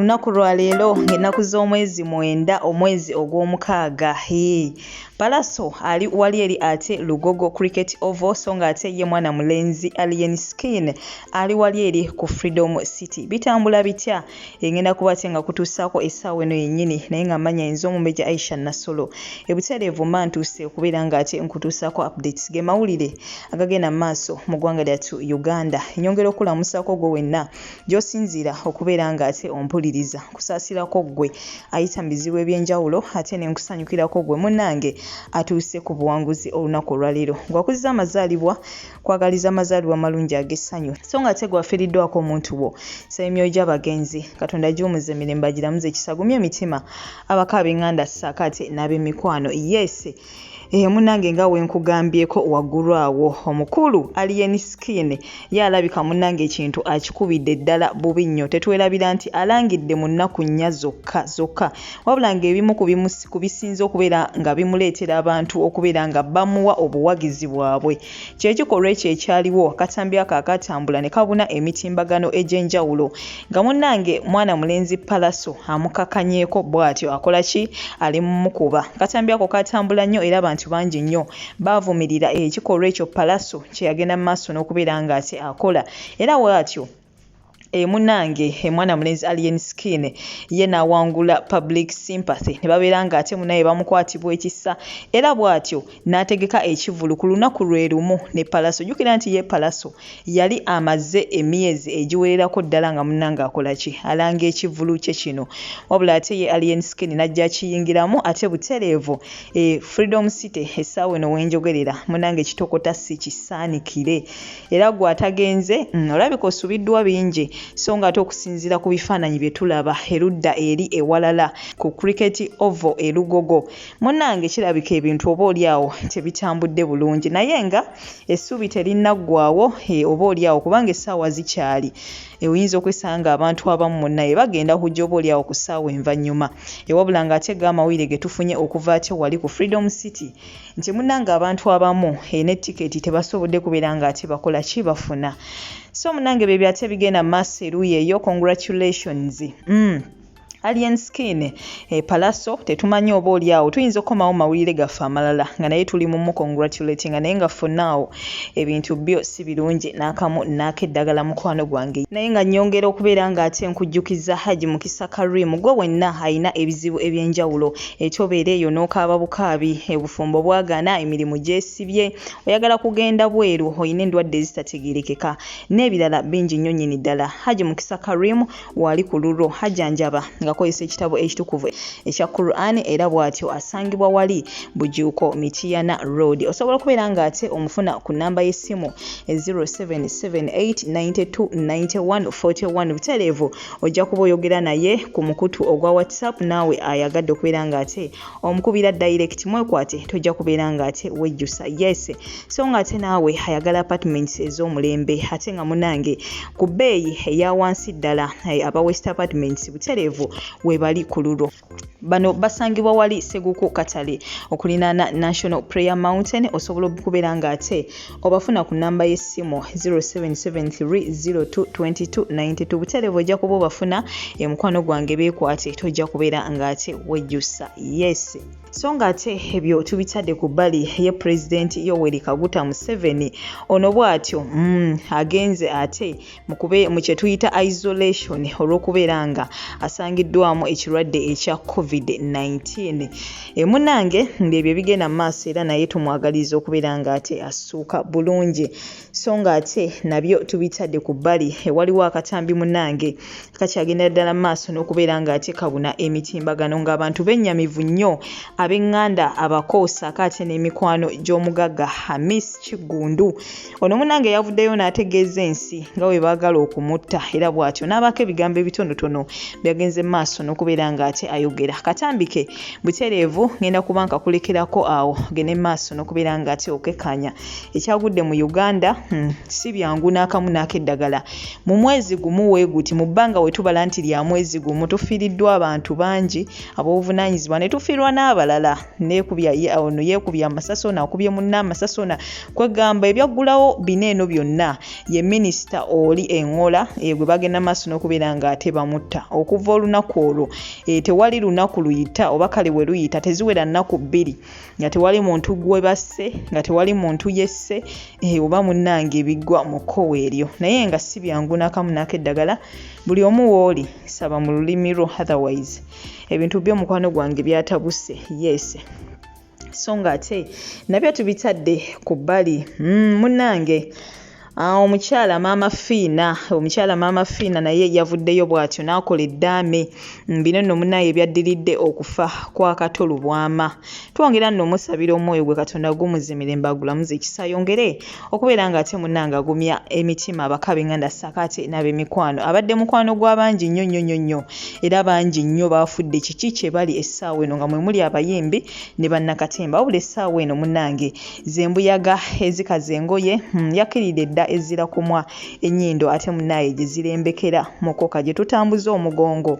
olunaku lwa leero ng'ennaku z'omwezi mwenda omwezi ogw'omukaaga hee palaso ali wali eri ate lugogo cricket ovo so ng'ate ye mwana mulenzi alien skin ali wali eri ku freedom city bitambula bitya engenda kuba ate nga kutuusaako essaawa eno yennyini naye nga manya enza omumeja aisha nasolo ebutereevu mba ntuuse okubeera nga ate nkutuusaako updates ge mawulire agagenda mu maaso mu ggwanga lyattu uganda enyongera okulamusaako gwe wenna gy'osinziira okubeera nga ate ompuliriza kusaasirako ggwe ayita mu bizibu eby'enjawulo ate ne nkusanyukirako ggwe munnange atuuse ku buwanguzi olunaku olwaleero ngwakuziza amazaalibwa kwagaliza amazaalibwa amalungi ag'essanyu so nga ate gwafiriddwako omuntu wo sa emyoyo gy'abagenzi katonda giwumuza emirembe agiramuza ekisagumya emitima abako ab'enganda saako ate n'ab'emikwano yese eyo eh, munange nga wenkugambyeko waggulu awo omukulu alien skin ye alabika munange ekintu akikubidde ddala bubi nnyo tetwerabira nti alangidde mu nnaku nnya zokka zokka wabula ng'ebimu ku bisinze okubeera nga bimuleetera abantu okubeera nga bamuwa obuwagizi bwabwe kyekikolwa ekyo ekyaliwo akatambi ako akatambula ne kabuna emitimbagano egy'enjawulo nga munnange mwana mulenzi palaso amukakanyeeko bw'atyo akola ki ali mumukuba akatambi ako katambula nnyo era abantu bangi nnyo baavumirira ekikolwa ekyo palaso kye yagenda mu maaso n'okubeera ng'ate akola era bw'atyo e munange emwana mulenzi alien skin ye nawangula public sympathy ne babeera nga ate munaye bamukwatibwa ekisa era bw'atyo n'ategeka ekivulu ku lunaku lwe lumu ne palaso jjukira nti ye palaso yali amaze emyezi egiwererako ddala nga munange akola ki alanga ekivulu kye kino wabula ate ye alien skin n'ajja akiyingiramu ate butereevu e freedom city essaawa eno wenjogerera munange kitokota si kisaanikire era gwe atagenze mm, olabika osubiddwa bingi so nga ate okusinziira ku bifaananyi bye tulaba erudda eri ewalala ku cricket ovo elugogo munnange kirabika ebintu oba oli awo tebitambudde bulungi naye nga essuubi terinnaggwawo e, oba oli awo kubanga essaawa zikyali e, oyinza okwesanga abantu abamu munnaye bagenda kujja oba oli awo ku ssaawa envannyuma ewabula ng'ate ga amawulire ge tufunye okuva ate wali ku freedom city nti munange abantu abamu eh, ne tiketi tebasobodde kubeera nga ate bakola ki bafuna so munange bye byate bigenda maaso eruuyi eyo congratulations mm. alien skin e eh, palaso tetumanyi oba oli awo tuyinza okukomawo mawulire gaffe amalala nga naye tuli mumu congratulating nga naye nga fonaawo ebintu byo si birungi n'akamu naako eddagala mukwano gwange naye nga nyongera okubeera ng'ate nkujjukiza haji mukisa karim gwe wenna alina ebizibu eby'enjawulo Eki obeera eyo n'okaaba bukaabi, obufumbo bwagaana, emirimu gyesibye, oyagala kugenda bweru, olina endwadde ezitategeerekeka n'ebirala bingi nnyo nnyini ddala. Hajji Mukisa Karim waali ku lulwo hajjanjaba ngakozesa ekitabo ekitukuvu ekya Quran era bwatyo asangibwa wali Bujuuko Mityana Road. Osobola okubeera ng'ate omufuna ku nnamba y'essimu 0778 92 91 41 butereevu. ojja kuba oyogera naye ku mukutu ogwa whatsapp naawe ayagadde okubeera nga ate omukubira direct mwekwate tojja kubeera nga ate wejjusa yes so nga ate naawe ayagala apartments ez'omulembe ate nga munange ku bbeeyi eya wansi ddala eh, aba west apartments butereevu webali ku lulwo bano basangibwa wali seguku katale okulinaana national prayer mountain osobola okubeera nga ate obafuna ku namba y'essimu 0773022292 buterevu ojja kuba obafuna emukwano gwange beekwate tojja kubeera nga ate wejjusa yes so nga ate ebyo tubitadde ku bbali ye pulezidenti yoweri kaguta museveni ono bw'atyo mm, agenze ate mu kye tuyita isolation olw'okubeera nga asangiddwamu ekirwadde ekya covid-19 emunange ngaebyo ebigenda mu maaso era naye tumwagaliza okubeera nga ate assuuka bulungi so nga ate nabyo tubitadde ku bbali ewaliwo akatambi munange kakyagenda ddala maaso n'okubeera ng'atekabuna emitimbagano ng'abantu bennyamivu nnyo ab'eŋŋanda abako saako ate n'emikwano gy'omugagga hamis kiggundu ono munange yavuddeyo n'ategeeza ensi nga bwe baagala okumutta era bw'atyo n'abaako ebigambo ebitonotono byagenze maaso n'okubeera ng'ate ayogera katambike butereevu ngenda kuba nkakulekerako awo gende maaso n'okubeera ng'ate okekkaanya ekyagudde mu uganda hmm, si byangu n'akamu n'akeddagala Mu mwezi gumu we guti mu bbanga we tubala nti lya mwezi gumu tufiiriddwa abantu bangi ab'obuvunaanyizibwa ne tufiirwa n'abalala neekubya ono yeekubya amasasi ono akubye munna amasasi ono kwegamba ebyaggulawo bina eno byonna ye minisita oli eŋola egwe bagenda maaso n'okubeera ng'ate bamutta okuva olunaku olwo eh, tewali lunaku luyita oba kale we luyita teziwera nnaku bbiri nga tewali muntu gwe basse nga tewali muntu yesse eh, oba munnange ebigwa mu kkowe eryo naye nga si byangu nakamu naako eddagala buli omu wooli saba mu lulimi lwo otherwise ebintu byo mukwano gwange byatabuse yes so nga ate nabyo tubitadde ku bbali mm, munnange mm, Ah, omukyala maama fiina omukyala maama fiina naye yavuddeyo bw'atyo n'akola eddaame mm, bino nno munaye ebyaddiridde okufa kwa kato lubwama twongera nno omusabira omwoyo gwe katonda gumuzimire mbagulamuza ekisa yongere okubeera ng'ate munange agumya emitima abakabenganda sakaate n'abemikwano abadde mukwano gw'abangi nnyo nnyo nnyo nnyo era bangi nnyo baafudde kiki kye bali essaawa eno nga mwe muli abayimbi ne bannakatemba wabula essaawa eno munange zembuyaga ezikaza engoye hmm, yakiride dda ezira kumwa enyindo ate munaye gyezirembekera mukoka gyetutambuza omugongo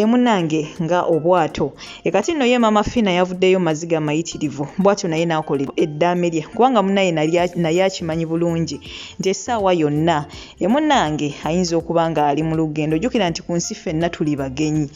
emunange nga obwato ekati nno ye mama fina yavuddeyo maziga amayitirivu bwatyo naye nakolera eddaame lye kubanga munaye naye akimanyi bulungi nti essaawa yonna emunange ayinza okuba nga ali mu lugendo jukira nti ku nsi fenna tuli bagenyi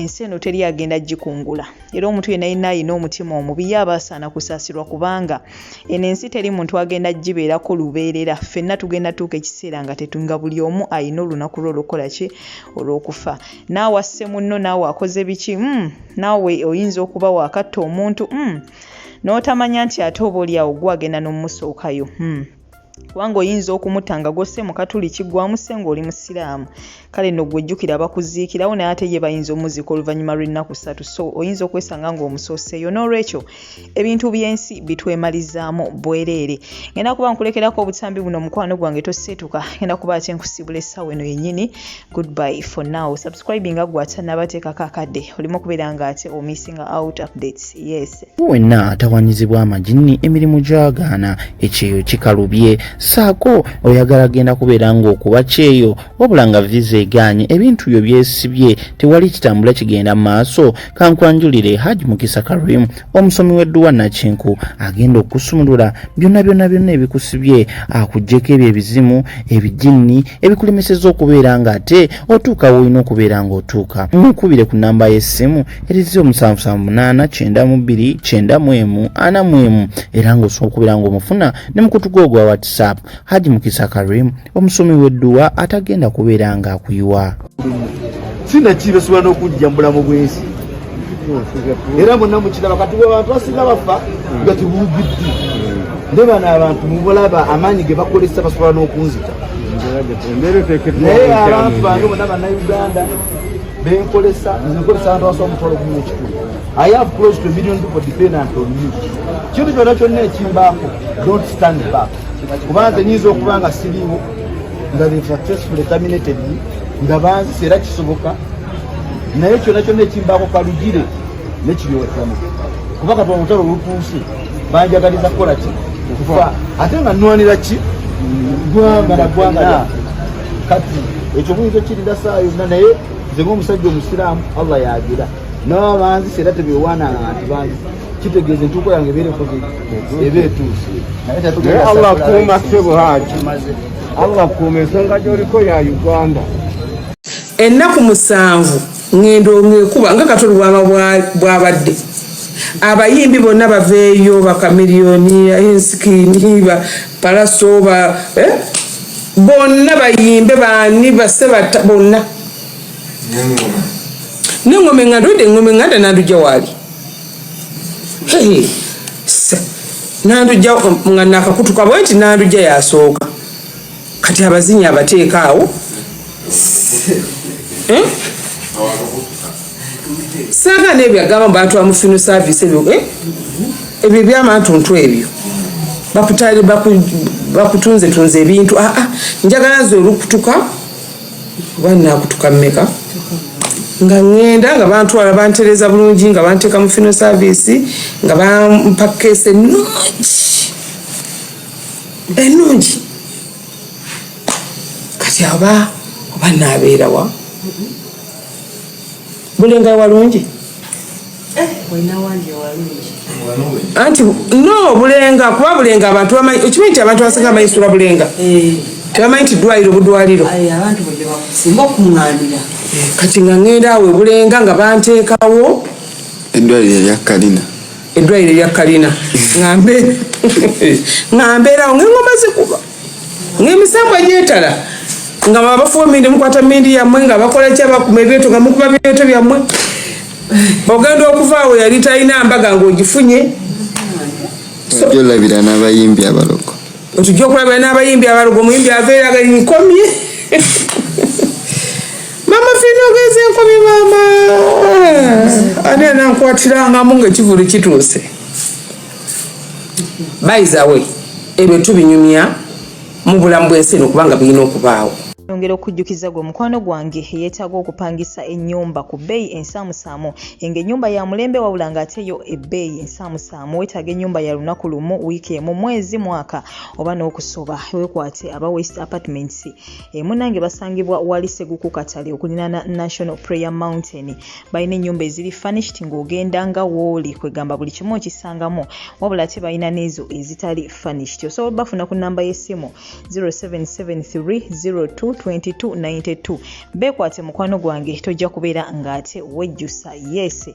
ensi eno teri agenda gikungula era omuntu yenna yenna alina omutima omubi ye aba asaana kusaasirwa kubanga eno ensi teri muntu agenda gibeerako lubeerera ffenna tugenda tuuka ekiseera nga tetunga buli omu alina olunaku lwe olwokukola ki olw'okufa naawe asse munno naawe akoze biki mm, naawe oyinza okuba waakatta omuntu mm, n'otamanya nti ate oba oli awo gwe agenda n'omusookayo mm. kubanga oyinza okumuta nga gwosse mu katuliki gwamusse ng'oli musiraamu kale no gwe jjukira bakuziikirawo naye ate ye bayinza omuziika oluvannyuma lw'ennaku ssatu so oyinza okwesanga ng'omusooseeyo n'olwekyo ebintu by'ensi bitwemalizaamu bwereere ngenda kuba nkulekerako obutambi buno mukwano gwange toseetuka ngenda kuba ate nkusibula essaawa eno yennyini goodbye for now subscribing nga gwatanabateekako akadde olimu okubeera nga ate omissinga out updates yes wenna atawanyizibwa amajinni emirimu gyagaana ekyeyo kikalubye saako oyagala genda kubeera ng'okuba kyeyo wabula nga viza egaanye ebintu byo byesibye tewali kitambula kigenda mu maaso kankwanjulire haji mukisa karim omusomi w'edduwa nakinku agenda okusumulula byonna byonna byonna ebikusibye akugyeko ebyo ebizimu ebijinni ebikulemeseza okubeera nga ate otuuka woolina okubeera nga otuuka mukubire ku namba y'essimu eri 07789294 era ng'osobola okubeera ng'omufuna ne mukutuga ogwa whatsapp haji mukisa karim omusomi w'edduwa atagenda kubeera ng'akuyiwa sina kibesobola n'okujja mu bulamu bw'ensi era mwenna mukiraba kati abantu basinga bafa nga tibugiddi ne bano abantu mubulaba amaanyi ge bakozesa basobola n'okunzita naye abantu bange bona banauganda benkolesa nkolesa abantu basobola omutwalo gumu ekikulu i have close to a million people dependent on you kintu kyonna kyonna ekimbaako don't stand back kubanze nyinza okuba nga siriwo nga be successfully terminated nga bansi era kisoboka naye kyona kyona ekimbaako kalugire nekiryowakiwamu kuba kati olutalo olutuuse banjagaliza kukola ki okufa ate nga nwanira ki gwanga na gwanga kati ekyo muyinza okirira saa yonna naye nze ngaomusajja omusiraamu allah yagira nababanzisa era tebyowaananga nti banzisa kitegeeza entuuko yange ebeerekoze eba etuuse naye allah akuuma ssebo haji allah akuuma ensonga gyoliko ya uganda ennaku musanvu ngendo ngekuba nga katoli bwama bwabadde abayimbi bonna baveeyo bakamiliyoni ensikini ba palaso ba eh? bonna bayimbe bani base bonna nengoma enganda ode engoma enganda nanduja waali nandujja nga nakakutuka bwe nti nandujja yasooka kati abazinyi abateeka awo eh? saga nebyo agamba mbatwa mufino service ebyo eh? ebyo ebyamantuntu ebyo bakutunze tunze ebintu ah, ah, njagala nze olukutuka oba nakutuka mumeka nga ŋŋenda nga bantwala bantereeza bulungi nga banteeka mu fino service nga bampa keesi ennungi ennungi kati aba oba naabeerawa bulinga ewalungi eh, anti no bulenga kuba bulenga abantu bamanyi okimanyi nti abantu abasinga bamanyi sula bulenga eh. tebamanyi nti dwaliro budwaliro kati nga ŋenda awo ebulenga nga banteekawo edwaliro eryakalina edwaliro eryakalina nga mbeerawo ngaeŋoma zikuba ng'emisambwa gyetala nga babafuwa mindi mukwata mindi yammwe nga bakola ki abakuma ebyeto nga mukuba byeto byammwe ogenda okuvaawo yali talina mbaga ng'ogifunye ojja olabira n'abayimbi abalogo otujja okulabira n'abayimbi abalogo omuyimbi aveeraga nkomye mama fina ogenze nkomye maama ani anankwatirangamu ng'ekivulu kituuse bayizawe ebyo tubinyumya mu bulamu bw'ensi eno kubanga birina okubaawo nongera okujjukiza gwe mukwano gwange yeetaaga okupangisa ennyumba ku bbeeyi ensaamusaamu enga ennyumba ya mulembe wabula ng'ate yo ebbeeyi ensaamusaamu weetaaga ennyumba ya lunaku lumu wiiki emu mwezi mwaka oba n'okusoba wekwate aba west apartments emunange basangibwa wali seguku katale okulinaana national prayer mountain balina ennyumba eziri furnished ng'ogenda nga wooli kwegamba buli kimu okisangamu wabula ate balina n'ezo ezitali furnished osobola obafuna ku nnamba y'essimu 0773022292 beekwate mukwano gwange tojja kubeera ng'ate wejjusa yese